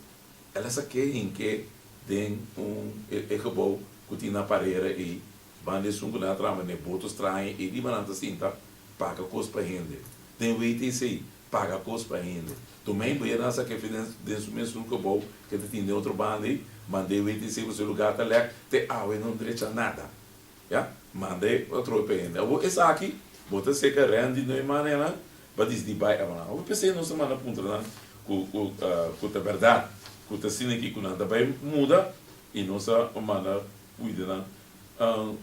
el a sa ke hinke den un e gebou ku tin na parera ei. Banda esun ku nan a traba n'e boto's traha e riba nan ta sinta paga kos pa hende. Den wei ta esei, paga kos pa hende. Tuma ei boyer nan sa kefe den den su mes sul kobou ku e ta tin den otro banda ei, manda e wei ta esei kos e lugá ta lèk te awa e no drecha nada. Ya, manda e pa trobe pa hende. Abo esaki bo ta seka rènt di noi man e nan pa disdi bai awa nan. Abo p'esei nos a manda puntra nan ku ku ku ta bèrdat ku ta asina ki ku nan ta bai muda i nos a manda Cuidanan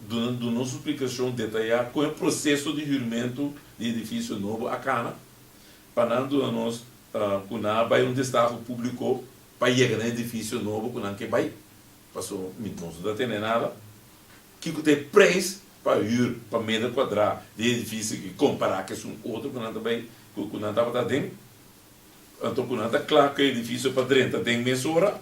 duna duna un splicacion detayá con e proceso di hurimento di edificio nobo a cana pa nan duna nos cu nan a bay un destaho publico pa yega na edificio nobo cu nan ke bay, paso mi nos no ta tene nada. Kico ta e prijs pa huur pa meter cuadra di e edificio aki compará cu esun otro cu nan ta bay cu nan tabata aden? Anto cu nan ta cla cu e edificio pa drenta aden mesora?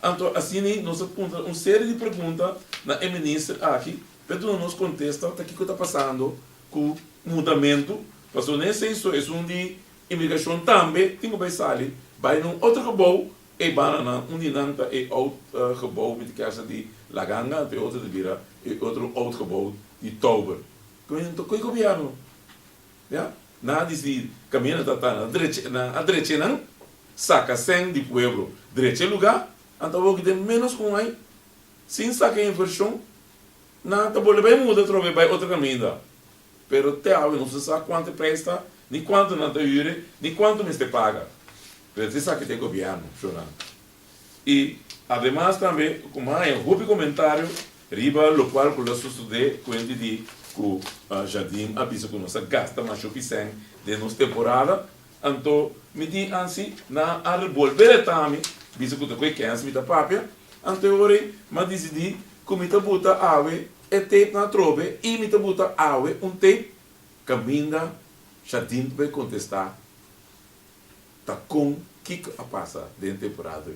Anto asina nos a puntra un serie di pregunta na e minister aki pa e duna nos contesta ta kico ta pasando cu mudamento pasobra na esey so esun di imigracion tambe tin cu bay sali bay na un otro gebouw e bananan un di nan ta e oud gebouw mi ta kier sa di La Ganga anto e otro ta bira e otro oud gebouw di Tauber entonces kico gobierno Ya, nan a dici, Camina na tata, nan a dreche, nan a dreche nan, saca sen di pueblo. Dreche e lugar, nan ta hogi den menos cu un ai, sin saca inversion, nan ta bolbe bay muda atrobe, bay otro caminda. Pero te awe nos no sa cuanto e prijs ta, ni cuanto nan ta hure, ni cuanto mester paga. Pero te sa ki ta e gobierno, Jonan. Y ademas tambe cu m'a haya hopi comentario riba locual cu lo susude cuenti di cu Jardin a bisa cu nos a gasta masho pisen den nos temporada, anto mi tin ansi nan a rebolbe retami bisa cu ta cu e kens mi ta papia, anto e ora ey m'a dicidi cu mi ta buta awe e tape nan atrobe y mi ta buta awe un tape caminda Jardin ta bay contesta ta kon kiko a pasa den temporada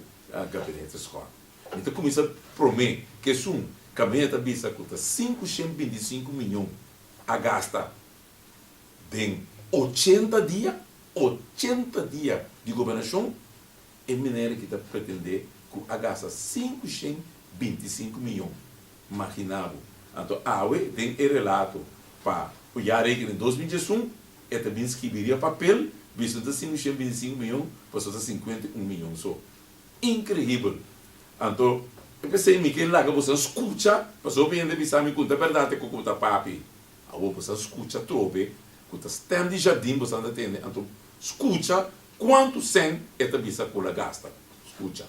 Gabinete Scott. Mi ta kuminsá promé ku esun kabinete ta bisa ku ta sinku shent binti i sinku miñon a gasta den ochenta dia, ochenta dia di gobernashon, e manera ki ta pretendé ku a gasta sinku shent binti i sinku miñon. Magina bo. Anto awe den e relato pa ku ya reken den dos mil diesun, e ta bin skibi riba papel, bisto e ta sin un shent binti sinku miyon, pasobra ta sinkuenta i un miyon so. Inkrehibel! Anto, e p'esei mi ke laga boso a skucha, pasobra hopi hende a bisa mi kunta bèrdat e koko bo ta papia. Awor boso a skucha trobe ku ta stèm di jardin boso ta tende, anto skucha kuantu sèn e ta bisa ku el a gasta. Skucha.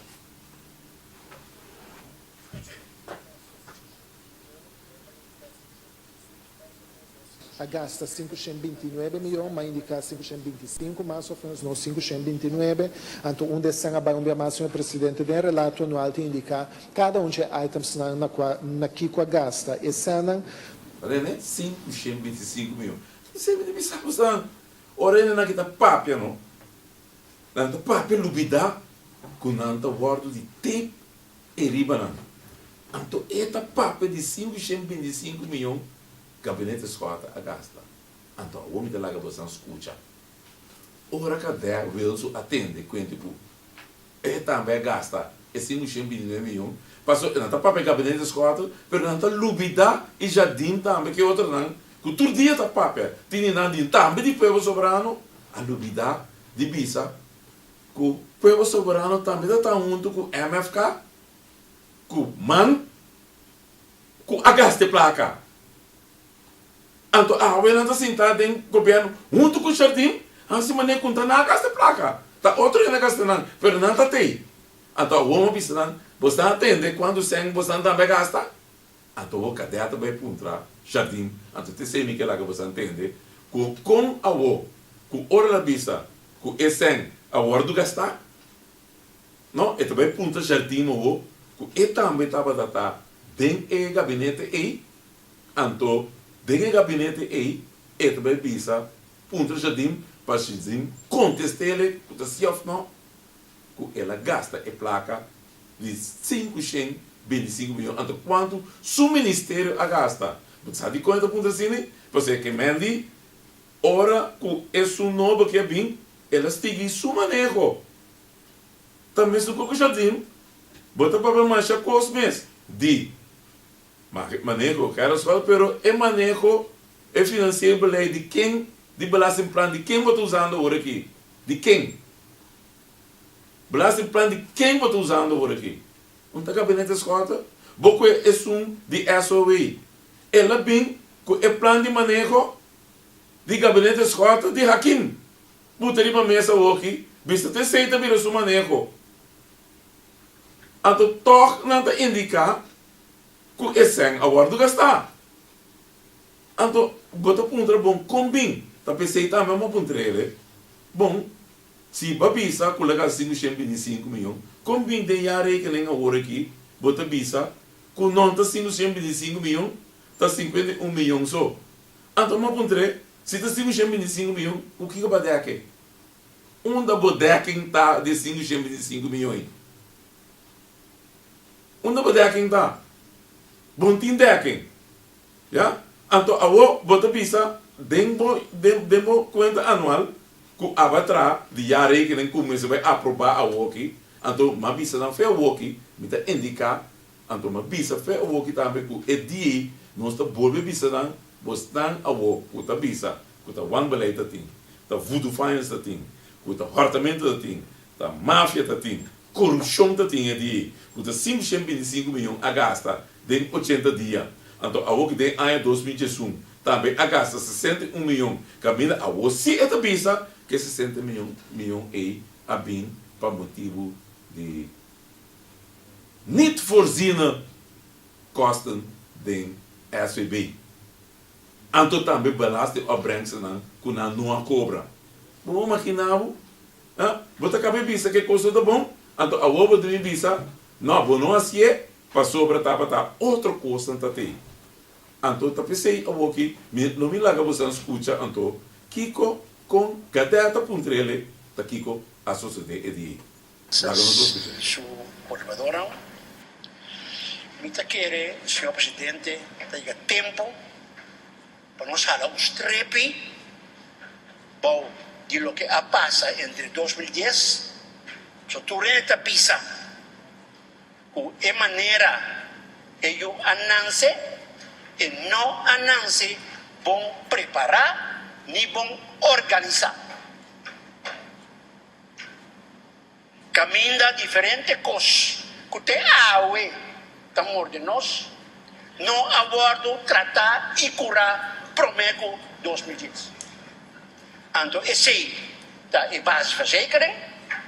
a gasta sinku shen binti nuebe miyon, m'a indiká sinku shen binti sinku mas òf menos no sinku shen binti nuebe, anto un desen a bai un bia mas, señor presidente. Den e relato anual tin indiká kada un dje itemsnan na kua na kiko a gasta esènan. Rene, Sinku shen binti sinku miyon. Mi sèbi di bisa kosnan. Ora renenan ke ta papia no, nan ta papia lubidá ku nan ta wòrdu di te. e ribanan. Anto e ta papia di sinku shent binti i sinku miyon gabinete sòrta a gasta. Anto awor mi ta laga bo san skucha. Ora Kadè Wilsu a tende kuenti p'u e tambe a gasta e sinku shent binti i nuebe miyon, paso e nan ta papia gabinete sòrta, pero nan ta lubidá e jardin tambe ku e otronan ku tur dia ta papia tindi nan di tambe di pueblo soberano a lubidá di bisa. Ku Pueblo Soberano tambe ta ta huntu ku MFK, ku man ku a gasta e plaka. Anto awe nan ta sintá den gobièrnu huntu ku Jardín hasi manera ku nan a gasta e plaka. Ta otro hende a gasta nan, pero nan ta tei. Anto awor mi a bisa nan, Boso ta atende kuantu sèn boso nan tambe a gasta? Anto bo kadea ta bai puntra Jardín, anto ta esei mi ke laga bo sa ntende ku kon awo ku ora na bisa ku e sèn a wòrdu gastá? No, e ta bai puntra Jardín awo ku e tambe tabata ta den e gabinete ei. Anto den e gabinete ei e ta bai bisa puntra Jardín pa Jardín kontest'ele ku ta si òf no. ku el a gasta e plaka di sinku shen bintisinku miyon. Anto kuantu su ministerio a gasta? Bo ta sa dikon e ta puntra si ni? Pasobra ke men di ora ku e su nobo ke a bin, el a sigui su maneho. Ta mesun ku Kushatim, bo ta papia masha kos mes di maneho kara suel, pero e maneho, e finansiero belei di ken, di belastingplan di ken bo ta usando ora aki? Di ken? Belasting plan di ken bo ta usando ora aki? Un ta gabinete escorta? Bo cu e esun di SOE. El a bin cu e plan di maneho di gabinete escorta di Hakim buta riba mesa oki bista ta esey ta bira su maneho. Anto toch nan ta indica cu e cen a wordo gasta? Anto bo ta puntra bon kon bin ta p'esei tambe a moku un trele? Bon, si bo a bisa ku laga si ku shen bini sin ku mion, kon bin den ya rekening awor aki bo ta bisa ku non ta sin ku shen bini sin ku mion, ta sinkuenta i un mion so? Anto a moku un tre? Si ta sin ku shen bini sin ku mion, ku kiko bo a deken? Unda bo deken ta di e sin ku shen bini sin ku mion ei? Unda bo deken ta? Bon tin deken? Ya, anto awor bo ta bisa den bo den bo cuenta anual cu aba traha di jaarrekening cu mester bay aproba awor aki, anto m'a bisa nan fe awor aki, mi ta indica, anto m'a bisa fe awor aki tambe cu e di ey nos ta bolbe bisa nan, bosnan awor cu ta bisa cu ta wanbeleid ta tin, ta voodoo finance ta tin, cu ta hortamento ta tin, Ta mafia ta tin. Corupcion ta tin e dia ei cu ta cinco ciento binti cinco miyon a gasta den ochenta dia. Anto awor cu den aña dos mil diesun tambe a gasta sesenta i un miyon caminda awor si e ta bisa cu e sesenta miyon miyon ei a bin pa motibu di niet voorziene kosten den SVB. Anto tambe belastingopbrengstenan cu nan no a cobra. Bo a magina bo? Ha? Bo ta kabe bisa ku e kos no ta bon, anto awor bo ta bin bisa, No, bo no hasié, pasobra tabata otro kosnan tatei. Anto ta p'esei awor ki mi lo bin laga boso nan skucha, anto, kiko, kon, kade ta puntra el e, ta kiko a sosodé e dia ei. Laga nos bo skucha. Su kolaboradornan, Mi ta kere, Señor Presidente, ta yega tempu. Pa nos hala un strepi bou di loke a pasa entre dos mil dies, so tur hende ta bisa ku e manera e yu a nanse e no a nanse bon prepará ni bon organisá. Caminda diferente cos cu te awe ta morde nos no a wordo trata y cura prome cu dos mil dies. Anto esey ta e base verzekering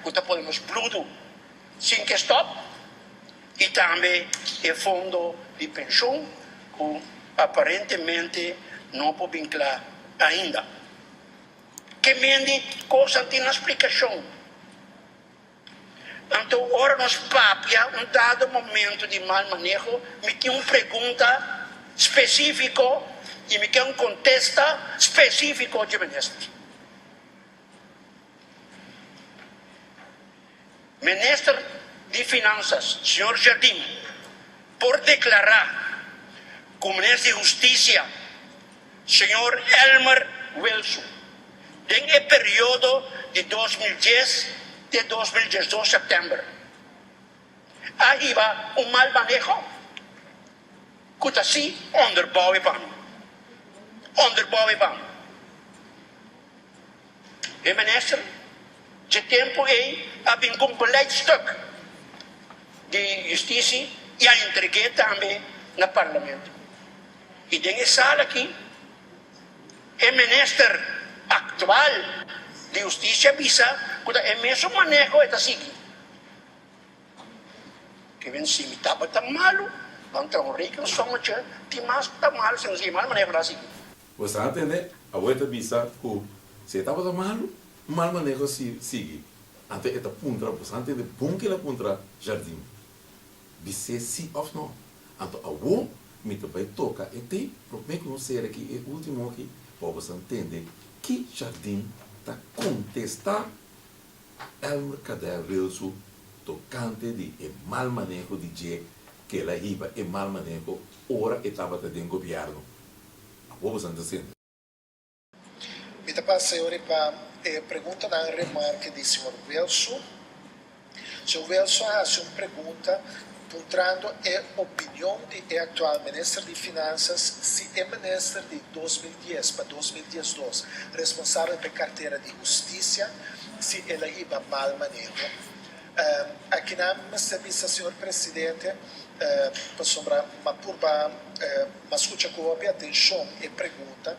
cu ta pone nos bludo sin ke stop y tambe e fondo di pension cu aparentemente no por bin cla ainda. Ke men di kosanan tin nan splikashon. Anto ora nos papia un dado momento di mal maneho, mi tin un pregunta spesifiko i mi ken un kontesta spesifiko dje minister. Minister di Finansas, señor Jardim, por deklará ku Minister di Hustisia, señor Elmer Wilson, den e periodo di dos mil dies te dos mil dies dos sèptèmber a hiba un mal maneho ku ta si onderbouwe pan onderbouwe pan. E minister dje tempu ey a bin cu un beleidstuk di justici y a entregue tambe na Parlamento. Y den e sala aki e minister actual di Justicia a bisa cu ta e mesun maneho e ta sigui. Cu mi si mi tabata malu, ban tra un rekensom atje, tin mas cu ta malu si mi ta sigui e maneho. Bo sa tende, awe ta bisa ku si e tabata malu, un mal maneho si sigui. Anto e ta puntra, Bo sa tende bon kil a puntra jardin? Bis'é si òf nò. Anto awor mi ta bai toka e tei, promé ku no sera ki e último aki, pa bo sa tende ki jardin ta kontestá Elmer Cadel Rilsu tokante di e mal maneho di dje kila hiba e mal maneho ora e tabata den gobièrnu. a bobo san ta sende. Mi ta paseo riba e preguntanan remarke di señor Wilson. Señor Wilson a hasi un pregunta puntrando e opinion di e actual Minister di Finanzas si e Minister di dos mil dies pa dos mil diesdos responsabel pa e cartera di Husticia si el a hiba mal maneho. Akinan mester bisa Señor Presidente pasobra m'a purba m'a scucha cu hopi atencion e pregunta,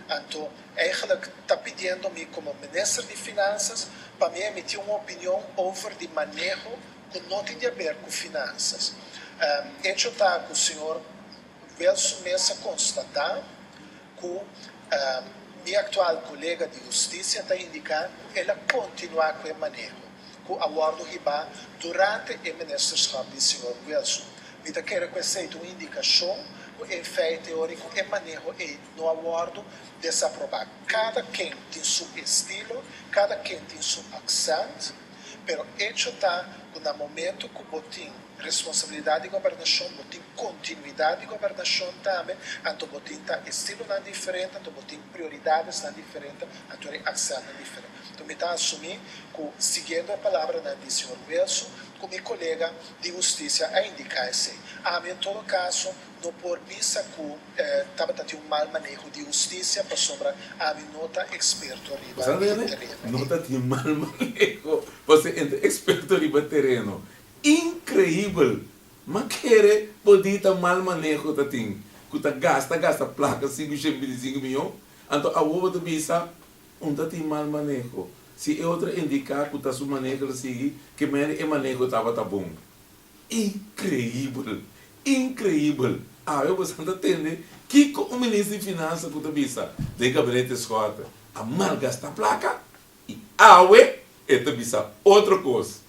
anto eigenlijk ta pidiendo mi como Minister di Finanzas pa mi emiti un opinion over di maneho cu no tin di haber cu finanzas. Hecho ta cu Señor Welson Meza constata. Ku mi aktual kolega di hustisia ta indiká ku el a kontinuá ku e maneho ku a wòrdu hibá durante e ministerskòp di señor Wilson. Mi ta kere ku esei ta un indikashon ku en feite ora ku e maneho ei no a wòrdu desaprobá. Kada ken tin su estilo, kada ken tin su aksènt. Pero echo ta cu na momento cu bo tin responsabilidad di gobernacion, bo tin continuidad di gobernacion tambe, anto bo tin ta estilonan diferente, anto bo tin prioridadesnan diferente, anto era e accentnan diferente. Enton mi ta asumi cu siguiendo e palabranan di señor Wilson, cu mi colega di Husticia a indica esey. Ami en todo caso, No por bisa cu tabata tin un mal maneho di husticia pasobra ami no ta experto riba e tereno. No ta tin mal maneho pasobra e ta experto riba e tereno. Increibel! Ma kere bo di ta mal maneho ta tin cu ta gasta gasta placa sinku shentbe bini sinku miyon? Anto awo bo ta bisa un ta tin mal maneho si e otro indica cu ta su maneho lo sigui ke meri e maneho tabata bon. Increibel! Increibel! Awe bo san ta tende kico un Minister di Finansa cu ta bisa den e Gabinete Scott a malgasta placa y awe e ta bisa otro cos.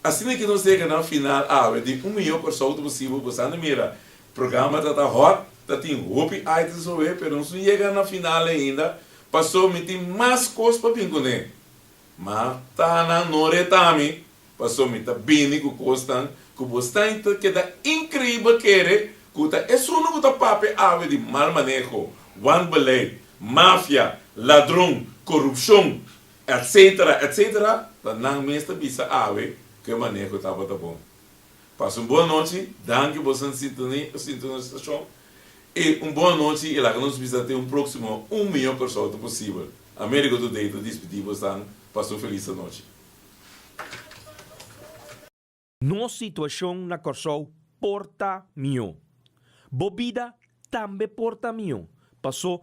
Asina ki nos yega na final awe di Un Mijo Corsou ta posibel. Bo san ta mira programa ta ta hot, ta tin hopi items oe pero nos no yega na final ainda paso mi tin mas cos pa bin cune. Ma Tana no reta mi, paso mi ta bini cu cosnan cu bo stain ta keda increibel kere cu ta esun'e cu ta papia awe di mal maneho, wanbeleid, mafia, ladron, corupcion, etc. Etc. Ta nan mes ta bisa awe cu e maneho tabata bon. Pasa un bon nochi, danki bo san sintonia, sintonisa e stacion. E un bon anochi y laga nos bisa te un proximo un miyon persona posibel. America Today ta dispidi bo esnan pasa un feliz anochi. Nos situacion na Corsou por ta miyo. Bo bida tambe por ta miyo, paso